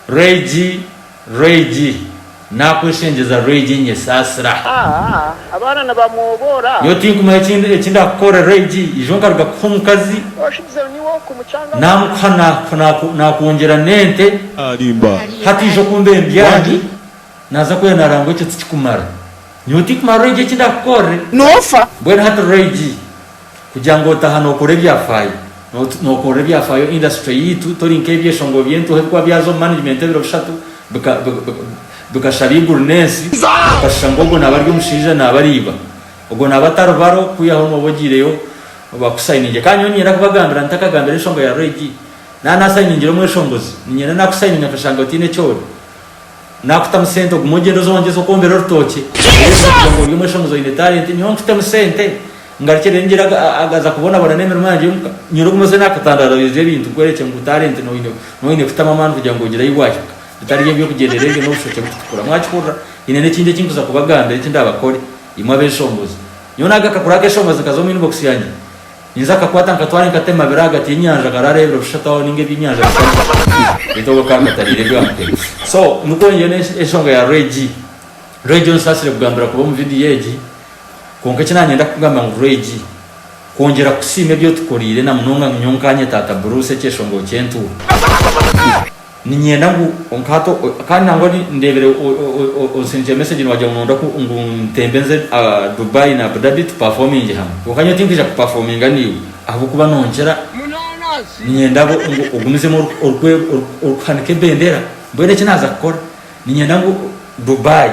Rwegi, rwegi, naakweshengyeza rwegi nyesaasira. Abaana nibamwoboora. Nyowe tinkumanya eki eki ndakukore rwegi, ija onkaruga kukuha omukazi, naamukuha naaku naaku naakwongyera n'ente, hati ija okumbe mbyaani, naaza kwera naarangwa ekyo tikikumara. Nyowe tinkumanya rwegi eki ndakukorre. Noofa. Mbwenu hati rwegi. Kugira ngu otaha nokora ebyafaayo nokora ebyafaayo industry yaitu tori nkebyeshongoro byentuha ebikuba byaza omu management ebiro bishatu bikashaba iguru nensi okashusha ngu ogwo naba ari omushaija naba ari iba ogwo naba atari baro kwihaho noba ogiireyo bakusainingye kandi nyowe ninyenda kubagambira ntakagambira enshonga ya reg naba nasainingire omweshongozi ninyenda nakusayininga nkashanga otaine ekyori. Nakutamu sente ogume ogyende oze wongyeze okwombera orutookye reero oze kugira ngu ori omweshongoozi oine talenti nyowe nkutemu sente ngarukye reero ngyere agaza kubonabona n'emirimo yangye omuka nyire ogume oze nakutandarariza ebintu nkwerekye ngu talenti noine noine kutamu amaani kugira ngu ogire ahi wahika bitari eby'okugyendera ebyo n'obushokye bukutukura mwakihurira nyine n'ekindi eki nkuza kubagambira eki ndabakore imwe abeshongoozi nyowe naaga akakuru akeshongoozi nkaza omu inbox yangye Ninza akakwata nkatware nkatema biri ahagati yenyanja karara ebiro bishatu aho ninga ebyenyanja bishatu baitu obwe kaba nkatarire ebyo nkatema so nikwo nyowe nenshonga ya Regi Regi onsasire kugambira kuba omu video egi kwonka eki nanyenda kukugambira ngu Regi kwongyera kusiima ebyotukorire namunonga nyowe nkanye tata Bruce ekyeshonga okyentuwe. Ninyenda ngu onkahate kandi nangwa ni ndebere onsindikire message niwagira ngu nonda ku ngu ntembe nze Dubai na Abu Dhabi tu performinge hamwe kwonka nyowe tinkija ku performinga naiwe ahabw'okuba nonkira ninyenda ngu ogumizemu orikuhanika ebendera mbwenu eki naza kukora ninyenda ngu Dubai.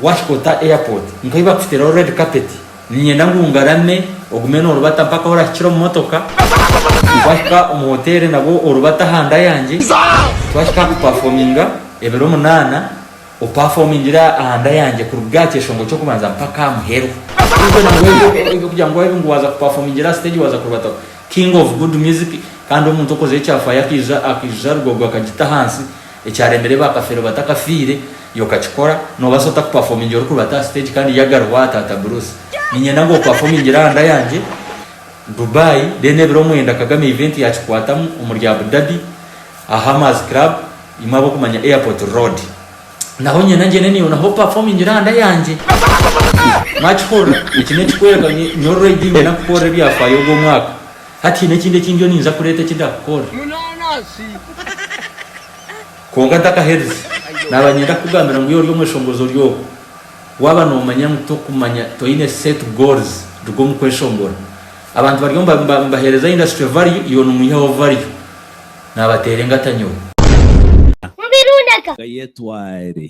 Wahika ota airport nkahi bakuteeraho red carpet ninyenda ngu ngarame ogume norubata mpaka ahu orahikire omu motoka Wahika omu hotel nabwo orubata aha nda yangye Twahika aha ku performinga ebiro munaana o performingire aha nda yangye kuruga aha kyeshongo ky'okubanza mpaka aha muheru Even ngu ebyo ebyokugira ngu waaba ngu waza ku performingire aha stage waza kurubataho King of good music kandi omuntu okoze ekya fire akaija akaija Rugogo akagita ahansi Ekyaremire ba Kafeero batakafiire, iwe okakikora, nobaasa ota kupafomingira orikubaata aha stage kandi yagara owaaha Taata Bruce? Niinyenda ngu opafomingire aha nda yangye, Dubai, then ebiro mwenda Kagame event yakikwatamu omuri Abu Dhabi aha Hammers Club, imwe ab'okumanya Airport Road. Naho niinyenda ngyende naiwe naho opafomingire aha nda yangye. Mwakihurira? Eki n'ekikworeka ngu nyowe already niinyenda kukukorera ebyafaayo ogwo mwaka. Hati haine ekindi eki ndiyo ninza kureeta eki ndakukora. Kwonka ntakaherize, naaba niinyenda kukugambira ngu yoorya omweshongozi ori ogwo, waaba noomanya ngu tokumanya, toine set goals, ruga omu kweshongora. Abantu bariyo nibaheereza industry value, iwe noomwihaho value. Naabateera engata nyowe. Mubirundaga. Gayetware.